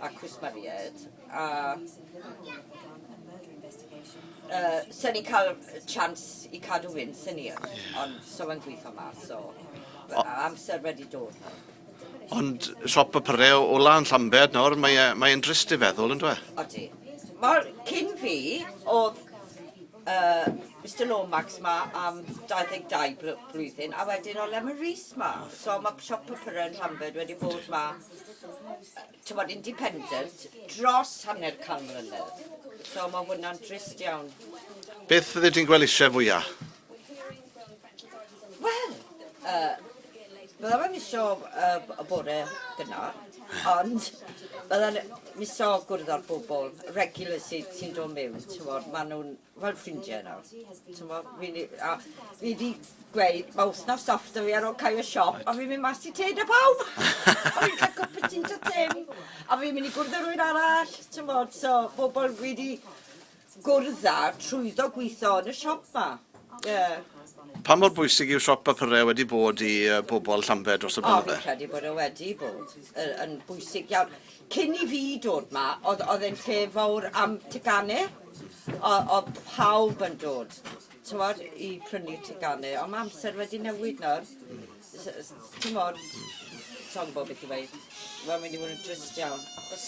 a cwsmeriaid a uh, so ni'n cael chans i cadw fynd, sy'n ni, ond so mae'n gweithio ma, so amser wedi dod. Ond siop y pyrreu o lan Llambed nawr, mae'n mae e, drist i feddwl, yn dweud? Odi. Mae'r cyn fi, oedd uh, Mr Lomax ma am 22 blwyddyn, a wedyn o Lemon Rees ma. So mae siop y pyrreu yn Llambed wedi bod ma tywod, independent dros hanner can mlynedd. So mae hwnna'n drist iawn. Beth fydde ti'n gweld eisiau fwyaf? Wel, uh, byddaf yn misio uh, y bore gyna, ond byddaf yn misio gwrdd â'r bobl regular sy'n sy dod mewn, ti'n fawr, maen nhw'n fel ffrindiau nawr. T'mo, fi ni- a fi 'di gweud ma' wthnos off 'da fi ar ôl cau y siop a fi'n mynd mas i tê 'da pawb! A fi'n ca'l cwpwtî 'da Tim a fi'n mynd i gwrdd â rywun arall, t'mod, so pobol fi 'di gwrdd â trwyddo gwitho yn y siop 'ma, ie. Pa mor bwysig yw siop papurau wedi bod i yy bobol Llambed dros y blynydde? O, fi'n credu bod e wedi bod yy yn bwysig iawn. Cyn i fi dod 'ma o'dd o'dd e'n lle fowr am tegane o- o'dd pawb yn dod t'mod i prynu tegane on' ma' amser wedi newid nawr s- yy s- t'mod sai'n gwbo beth i weud. Ma'n mynd i fod yn drist iawn achos...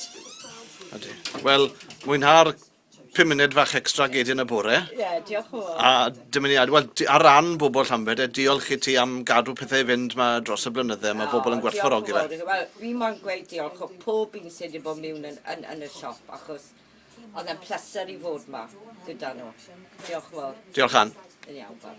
Odi. Wel mwynha'r pum munud fach extra gei di yn y bore. Ie, diolch o fawr. A dymuniad, wel, ar ran bobl Llambed, e, diolch i ti am gadw pethau i fynd ma dros y blynydde, mae bobl yn gwerthfawrogi fe. Wel, fi moyn gweud diolch o pob un sydd wedi bod miwn yn, yn, yn y siop, achos oedd e'n pleser i fod ma gyda nhw. Diolch o fawr. Diolch, Ann. Yn iawn, bye.